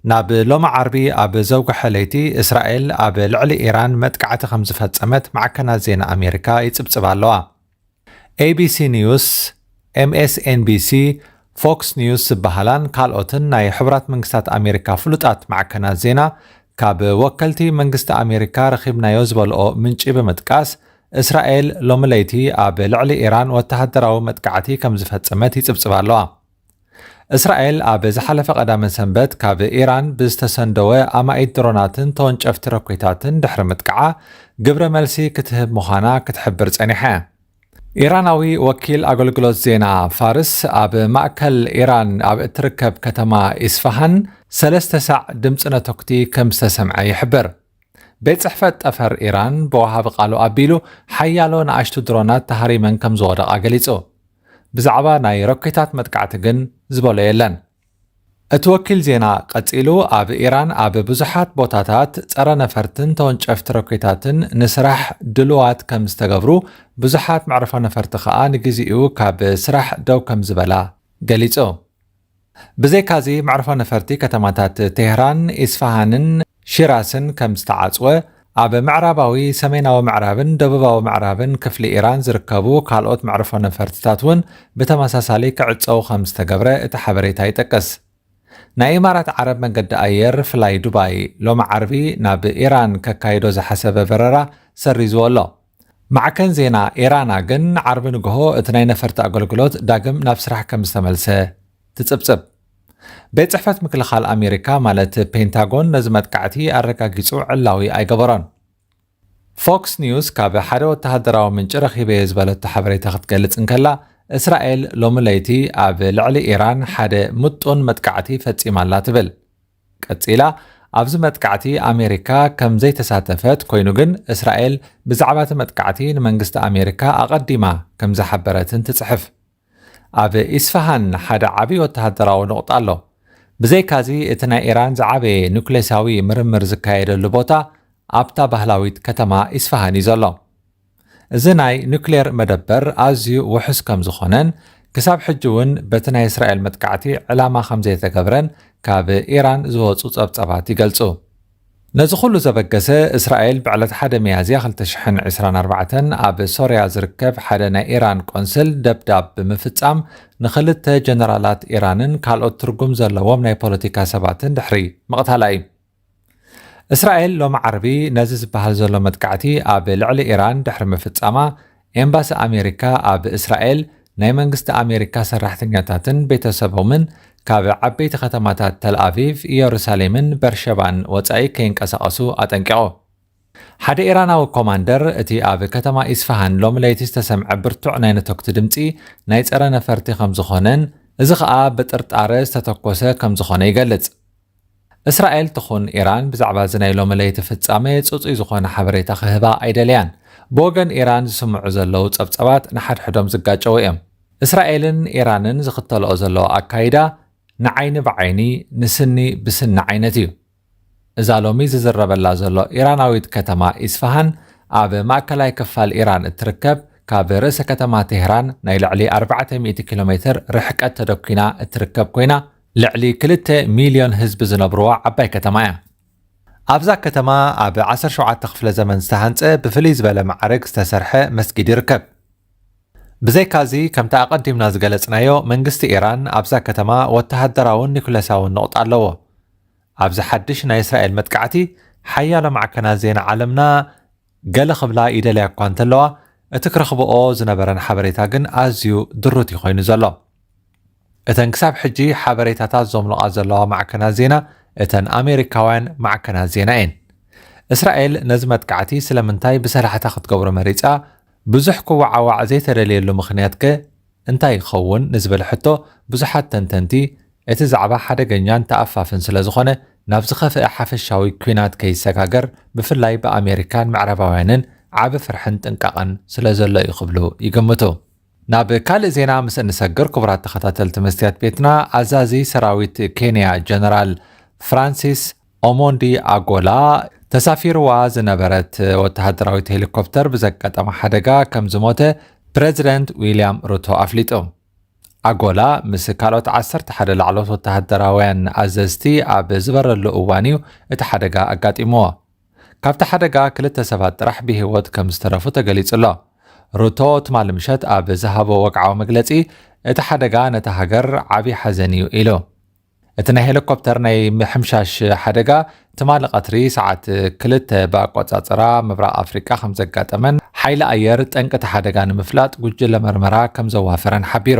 ናብ ሎሚ ዓርቢ ኣብ ዘውግሐ ለይቲ፣ እስራኤል ኣብ ልዕሊ ኢራን መጥቃዕቲ ከም ዝፈጸመት ማዕከናት ዜና ኣሜሪካ ይጽብጽባ ኣለዋ። ኤቢሲ ኒውስ፣ ኤምኤስኤንቢሲ፣ ፎክስ ኒውስ ዝበሃላን ካልኦትን ናይ ሕቡራት መንግስታት ኣሜሪካ ፍሉጣት ማዕከናት ዜና ካብ ወከልቲ መንግስቲ ኣሜሪካ ረኺብናዮ ዝበልኦ ምንጪ ብምጥቃስ እስራኤል ሎሚ ለይቲ ኣብ ልዕሊ ኢራን ወተሃደራዊ መጥቃዕቲ ከም ዝፈጸመት ይጽብጽባ ኣለዋ። እስራኤል ኣብ ዝሓለፈ ቀዳመ ሰንበት ካብ ኢራን ብዝተሰንደወ ኣማኢት ድሮናትን ተወንጨፍቲ ረኮታትን ድሕሪ ምጥቃዓ ግብረ መልሲ ክትህብ ምዃና ክትሕብር ጸኒሓ እያ። ኢራናዊ ወኪል ኣገልግሎት ዜና ፋርስ ኣብ ማእከል ኢራን ኣብ እትርከብ ከተማ ኢስፋሃን ሰለስተ ሳዕ ድምጺ ነተኩቲ ከም ዝተሰምዐ ይሕብር። ቤት ጽሕፈት ጠፈር ኢራን ብወሃቢ ቃሉ ኣቢሉ ሓያሎ ንኣሽቱ ድሮናት ተሃሪመን ከም ዝወደቓ ገሊጹ። ብዛዕባ ናይ ሮኬታት መጥቃዕቲ ግን ዝበሎ የለን። እቲ ወኪል ዜና ቀጺሉ ኣብ ኢራን ኣብ ብዙሓት ቦታታት ጸረ ነፈርትን ተወንጨፍቲ ሮኬታትን ንስራሕ ድሉዋት ከም ዝተገብሩ፣ ብዙሓት መዕርፎ ነፈርቲ ከኣ ንግዜኡ ካብ ስራሕ ደው ከም ዝበላ ገሊጹ። ብዘይካዚ መዕርፎ ነፈርቲ ከተማታት ቴህራን፣ ኢስፋሃንን ሺራስን ከም ዝተዓጽወ፣ ኣብ ምዕራባዊ፣ ሰሜናዊ ምዕራብን ደቡባዊ ምዕራብን ክፍሊ ኢራን ዝርከቡ ካልኦት መዕርፎ ነፈርትታት እውን ብተመሳሳሊ ክዕጸዉ ከም ዝተገብረ እቲ ሓበሬታ ይጠቅስ። ናይ ኢማራት ዓረብ መንገዲ ኣየር ፍላይ ዱባይ ሎሚ ዓርቢ ናብ ኢራን ከካይዶ ዝሓሰበ በረራ ሰሪዝዎ ኣሎ። ማዕከን ዜና ኤራና ግን ዓርቢ ንግሆ እቲ ናይ ነፈርቲ ኣገልግሎት ዳግም ናብ ስራሕ ከም ዝተመልሰ ትጽብጽብ። ቤት ጽሕፈት ምክልኻል ኣሜሪካ ማለት ፔንታጎን ነዚ መጥቃዕቲ ኣረጋጊጹ ዕላዊ ኣይገበሮን። ፎክስ ኒውስ ካብ ሓደ ወተሃደራዊ ምንጪ ረኺበዮ ዝበለቶ ሓበሬታ ክትገልጽ እንከላ እስራኤል ሎሚ ለይቲ ኣብ ልዕሊ ኢራን ሓደ ምጡን መጥቃዕቲ ፈጺማ ኣላ ትብል። ቀጺላ ኣብዚ መጥቃዕቲ ኣሜሪካ ከም ዘይተሳተፈት ኮይኑ ግን እስራኤል ብዛዕባ እቲ መጥቃዕቲ ንመንግስቲ ኣሜሪካ ኣቐዲማ ከም ዝሓበረትን ትጽሕፍ። ኣብ ኢስፋሃን ሓደ ዓብዪ ወተሃደራዊ ኑቕጣ ኣሎ። ብዘይካዚ እቲ ናይ ኢራን ዝዓበየ ኑክሌሳዊ ምርምር ዝካየደሉ ቦታ ኣብታ ባህላዊት ከተማ ኢስፋሃን እዩ ዘሎ። እዚ ናይ ኑክሌር መደበር ኣዝዩ ውሑስ ከም ዝኾነን ክሳብ ሕጂ እውን በቲ ናይ እስራኤል መጥቃዕቲ ዕላማ ከም ዘይተገብረን ካብ ኢራን ዝወጹ ጸብጻባት ይገልጹ። ነዚ ኩሉ ዘበገሰ እስራኤል ብዕለት ሓደ ሚያዝያ ክልተ ሽሕን ዕስራን ኣርባዕተን ኣብ ሶርያ ዝርከብ ሓደ ናይ ኢራን ቆንስል ደብዳብ ብምፍጻም ንክልተ ጀነራላት ኢራንን ካልኦት ትርጉም ዘለዎም ናይ ፖለቲካ ሰባትን ድሕሪ ምቕታላ እዩ። እስራኤል ሎሚ ዓርቢ ነዚ ዝበሃል ዘሎ መጥቃዕቲ ኣብ ልዕሊ ኢራን ድሕሪ ምፍጻማ ኤምባሲ ኣሜሪካ ኣብ እስራኤል ናይ መንግስቲ ኣሜሪካ ሰራሕተኛታትን ቤተሰቦምን ካብ ዓበይቲ ከተማታት ተልኣቪቭ ኢየሩሳሌምን በርሸባን ወጻኢ ከይንቀሳቐሱ ኣጠንቂቑ ሓደ ኢራናዊ ኮማንደር እቲ ኣብ ከተማ ኢስፋሃን ሎሚ ለይቲ ዝተሰምዐ ብርቱዕ ናይ ነተኩቲ ድምፂ ናይ ፀረ ነፈርቲ ከም ዝኾነን እዚ ከዓ ብጥርጣረ ዝተተኮሰ ከም ዝኾነ ይገልፅ እስራኤል ትኹን ኢራን ብዛዕባ እዚ ናይ ሎሚ ለይቲ ፍጻመ ጽጹይ ዝኾነ ሓበሬታ ክህባ ኣይደለያን። ብወገን ኢራን ዝስምዑ ዘለዉ ጸብጸባት ንሓድሕዶም ዝጋጨዉ እዮም። እስራኤልን ኢራንን ዝኽተልኦ ዘለዋ ኣካይዳ ንዓይኒ ብዓይኒ ንስኒ ብስኒ ዓይነት እዩ። እዛ ሎሚ ዝዝረበላ ዘሎ ኢራናዊት ከተማ ኢስፋሃን ኣብ ማእከላይ ክፋል ኢራን እትርከብ ካብ ርእሰ ከተማ ቴህራን ናይ ልዕሊ ኣርባዕተ ሚእቲ ኪሎ ሜትር ርሕቀት ተደኲና እትርከብ ኰይና ልዕሊ ክልተ ሚልዮን ህዝቢ ዝነብርዋ ዓባይ ከተማ እያ። ኣብዛ ከተማ ኣብ ዓሰርተ ሸውዓተ ክፍለ ዘመን ዝተሃንጸ ብፍልይ ዝበለ መዓርግ ዝተሰርሐ መስጊድ ይርከብ። ብዘይካዚ ከምቲ ኣቐዲምና ዝገለጽናዮ መንግስቲ ኢራን ኣብዛ ከተማ ወተሃደራውን ኒኩለሳውን ነቑጣ ኣለዎ። ኣብዚ ሓድሽ ናይ እስራኤል መጥቃዕቲ ሓያሎ ማዕከናት ዜና ዓለምና ገለ ክብላ ይደልያ እኳ እንተለዋ እቲ ክረኽብኦ ዝነበረን ሓበሬታ ግን ኣዝዩ ድሩት እዩ ኮይኑ ዘሎ። እተን ክሳብ ሕጂ ሓበሬታታት ዘምልቓ ዘለዋ ማዕከናት ዜና እተን ኣሜሪካውያን ማዕከናት ዜና'የን። እስራኤል ነዚ መጥቃዕቲ ስለምንታይ ብሰላሕታ ክትገብሮ መሪጻ፣ ብዙሕ ክወዓዋዕ ዘይተደልየሉ ምኽንያት'ከ እንታይ ይኸውን ንዝብል ሕቶ ብዙሓት ተንተንቲ፣ እቲ ዛዕባ ሓደገኛን ተኣፋፍን ስለዝኾነ ናብ ዝኸፍኣ ሓፈሻዊ ኲናት ከይሰጋገር ብፍላይ ብኣሜሪካን ምዕራባውያንን ዓቢ ፍርሕን ጥንቃቐን ስለዘሎ'ዩ ክብሉ ይግምቱ። ናብ ካልእ ዜና ምስ እንሰግር ክቡራት ተኸታተልቲ መስትያት ቤትና ኣዛዚ ሰራዊት ኬንያ ጀነራል ፍራንሲስ ኦሞንዲ ኣጎላ ተሳፊርዋ ዝነበረት ወተሃደራዊት ሄሊኮፕተር ብዘጋጠመ ሓደጋ ከም ዝሞተ ፕረዚደንት ዊልያም ሩቶ ኣፍሊጡ ኣጎላ ምስ ካልኦት ዓሰርተ ሓደ ላዕሎት ወተሃደራውያን ኣዘዝቲ ኣብ ዝበረሉ እዋን እዩ እቲ ሓደጋ ኣጋጢምዎ። ካብቲ ሓደጋ ክልተ ሰባት ጥራሕ ብህይወት ከምዝተረፉ ተገሊጹ'ሎ። ሩቶ ትማሊ ምሸት ኣብ ዝሃቦ ወግዓዊ መግለጺ፣ እቲ ሓደጋ ነታ ሃገር ዓቢ ሓዘን እዩ ኢሉ። እቲ ናይ ሄሊኮፕተር ናይ ምሕምሻሽ ሓደጋ ትማሊ ቀትሪ ሰዓት ክልተ ብኣቆጻጽራ ምብራቕ ኣፍሪቃ ከምዘጋጠመን ሓይሊ ኣየር ጠንቂ እቲ ሓደጋ ንምፍላጥ ጉጅለ መርመራ ከምዘዋፈረን ሓቢሩ።